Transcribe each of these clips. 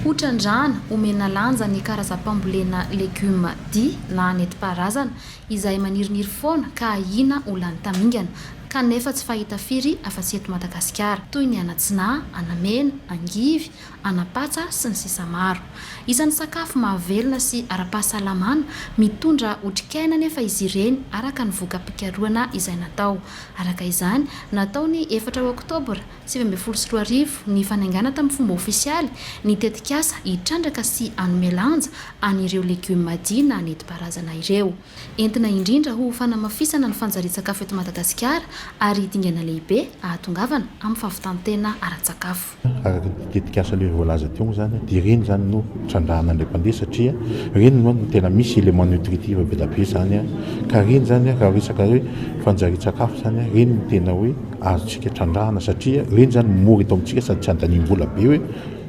Hotran-drano omena lanja ny karazam-pambolena legioma di na nentim-paharazana izay maniriniry foana ka ahiana ho lany tamingana, kanefa tsy fahita firy afa-tsy eto Madagasikara, toy ny an'Atsina, an'Amena, angivy, an'Ampatsa, sy ny sisa Maro. Isan'ny sakafo mahavelona sy ara-pahasalamana, mitondra otrikaina anefa izy ireny araka ny voka-pikarohana izay natao. Araka izany, natao ny efatra oktobra, sivy ambin'ny folo sy roa arivo, ny fanaingana tamin'ny fomba ofisialy ny tetikasa hitrandraka sy hanome lanja an'ireo legioma Dina nentim-paharazana ireo. Entina indrindra ho fanamafisana ny fanjarian-tsakafo eto Madagasikara ary dingana lehibe ahatongavana amin'ny fahavitan-tena ara-tsakafo. Araka ity tetikasa lery voalaza teo moa izany dia ireny izany no trandrahana indray mpandeha satria ireny no tena misy éléments nutritifs be dia be izany ka ireny izany raha resaka hoe fanjarian-tsakafo izany ireny no tena hoe azontsika trandrahana satria ireny zany mora eto amintsika sady tsy andaniam-bola be hoe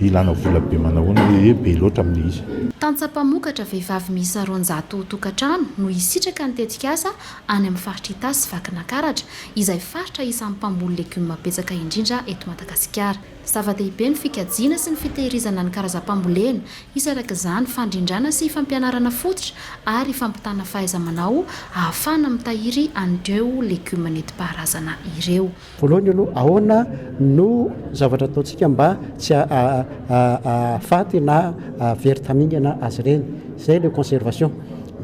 ilana vola be manao ahoana hoe be loatra amin'ny izy. Tantsaha mpamokatra vehivavy miisa roanjato tokantrano no hisitraka ny tetikasa any amin'ny faritra Itasy sy Vakinankaratra, izay faritra isan'ny mpamboly legioma betsaka indrindra eto Madagasikara. Zava-dehibe ny fikajiana sy ny fitehirizana ny karazam-pambolena. Hisy araka izany fandrindrana sy fampianarana fototra ary fampitana fahaiza-manao ahafahana mitahiry an'ireo legioma nentim-paharazana ireo. Voalohany aloha, ahoana no zavatra ataontsika mba tsy hahafaty na hahavery tamingana azy ireny? Izay ilay conservation.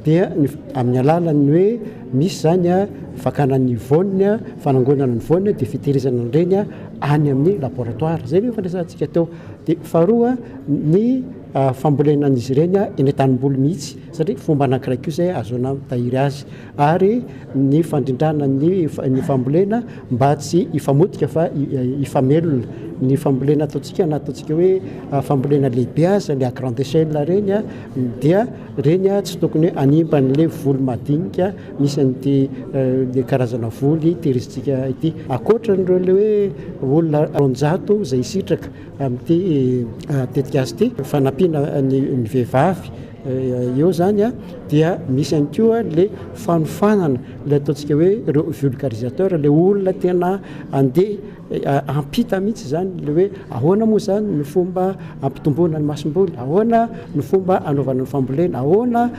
Dia ny amin'ny alalan'ny hoe misy izany fakana ny voany, fanangonana ny voany dia fitehirizana an'ireny. any amin'ny laboratoire, izay no fandresantsika teo. Dia faharoa ny fambolena an'izy ireny eny an-tanimboly mihitsy, satria fomba anankiray koa izay ahazoana mitahiry azy. Ary ny fandrindrana ny ny fambolena mba tsy hifamotika fa hifamelona. Ny fambolena ataontsika na ataontsika hoe fambolena lehibe aza, ny à grande échelle ireny dia ireny tsy tokony hanimba an'ilay voly madinika. Isan'ity le karazana voly tehirizitsika ity. Ankoatran'ireo le hoe olona roanjato izay hisitraka amin'ity tetikasa ity fanampiana ny ny vehivavy eo zany a dia misy ihany koa le fanofanana le ataontsika hoe reo vulgarisateur le olona tena andeha hampita mihitsy zany le hoe ahoana moa zany ny fomba hampitomboana ny masomboly ahoana ny fomba anaovana ny fambolena ahoana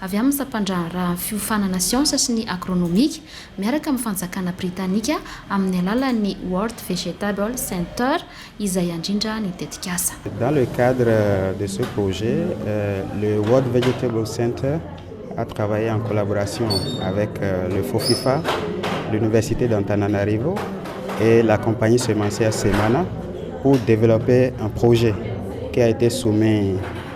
avy amin'ny sampandraharahan'ny fiofanana siansa sy ny agronomika miaraka amin'ny fanjakana britanika amin'ny alalan'ny World Vegetable Center izay andrindra ny tetikasa. Dans le cadre de ce projet, le World Vegetable Center a travaille en collaboration avec le Fofifa, l'Université d'Antananarivo et la compagnie semencière Semana pour developper un projet qui a été soumis